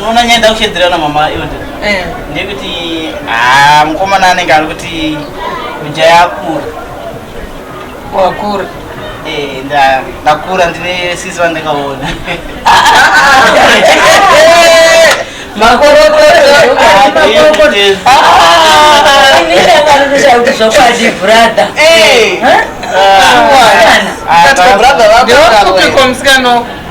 unoona nyaya ndakushedzera na mama ilde eh. ndekuti ah, mukomana anenge ari kuti kujaya akura wakura eh, ndakura ndine sisi vandakaona zvokwadi brother eh. ah, ah, ah,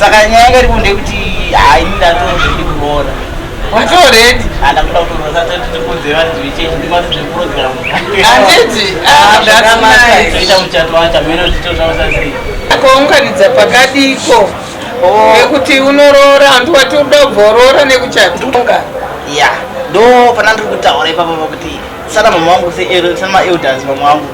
saka nyaya yanga iripo ndekuti haini ndatozvidi kuroora utoredi andakuda kuroora satotikunze vanhu zvichechi ndimati zvekurodzera anditi zvakanakaita muchato wacho amene zvitotaura sei ko ungaridza pakadiko nekuti oh. unoroora handi wati uda kubvoroora nekuchatonga ya ndo pana ndiri kutaura ipapa pakuti sana mama wangu seero sana maelders mama wangu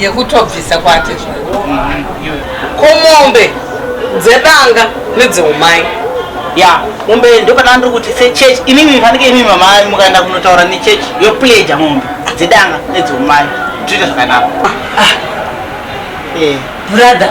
yekutobvisa kwake mm-hmm, komombe dzedanga nedzeumai ya mombe ndopana ndiri kuti sechurch imimi fanike imimi mamai mukaenda kunotaura nechurch yopleja mombe dzedanga nedzeumai toita zvakanaka ah, ah. eh. brother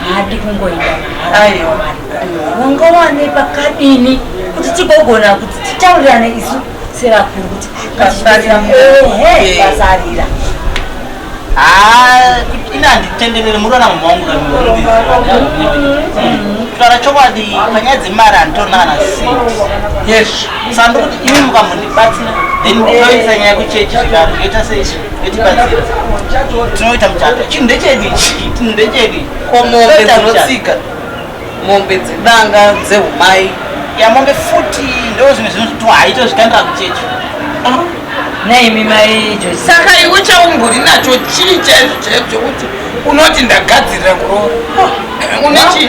haadi kungoenda mahara wanga wane pakadini kuti tigogona kuti titaurirane isu sevakuru kuti pasarira ina handitenderere murona mumwe wangu kutaura chokwadi panyaya dzemari handitonana yes sandikuti imi mukamhundibatsira then ndoisa nyaya kuchechi zvikaro zvoita seizvi tinoita muchato chinhu ndechedu ichi chinhu ndechedu ko mombe dzinotsika mombe dzedanga dzeumai ya mombe futi ndo zvimwe zvinoto haito zvikandira kuchechi naimi mai josi saka iwe chaumburi nacho chii chaizvo chaizvo chekuti unoti ndagadzirira kuroora une chii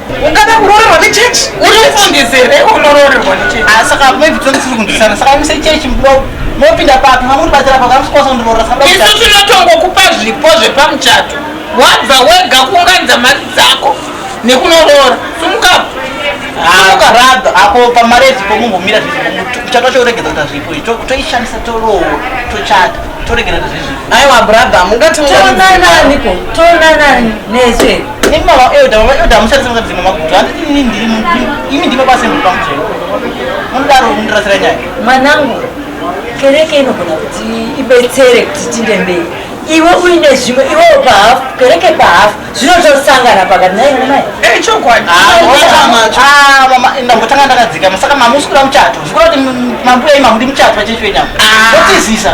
ungada kuroorerwa nechechi unofungizi here unoroorerwa nechechi ah, saka maividzo ndisiri kunzwisana saka imise chechi mudoko mopinda papi mamuribatsira pakamusikwanisa kundiroora saka isu tinotongokupa zvipo zvepamuchato wabva wega kuunganidza mari dzako nekunoroora sumukapo ukarada ah, apo pamari ezipo mungomira zvichata choregedza kuta zvipo izvi toishandisa torowo tochata toregera zvezvipo aiwa brother mungationananiko tonanani nezve Imi mama elder, mama elder mushandise mushandise mama kuti handi ini ndiri imi ndima basa muri pamuchero. Munodaro mundirasira nyaya. Mwanangu, kereke inogona kuti ibetsere kuti tinde mberi. Iwe uine zvimwe iwe pahafu kereke pahafu zvinotosangana pakati naye mai. Eh chokwadi. Ah, mama. Ah, mama ndambotanga ndakadzika musaka mama usikuda muchato. Zvikora kuti mambuya imamu ndi muchato vachechwe nyama. Ah. Ndotizisa.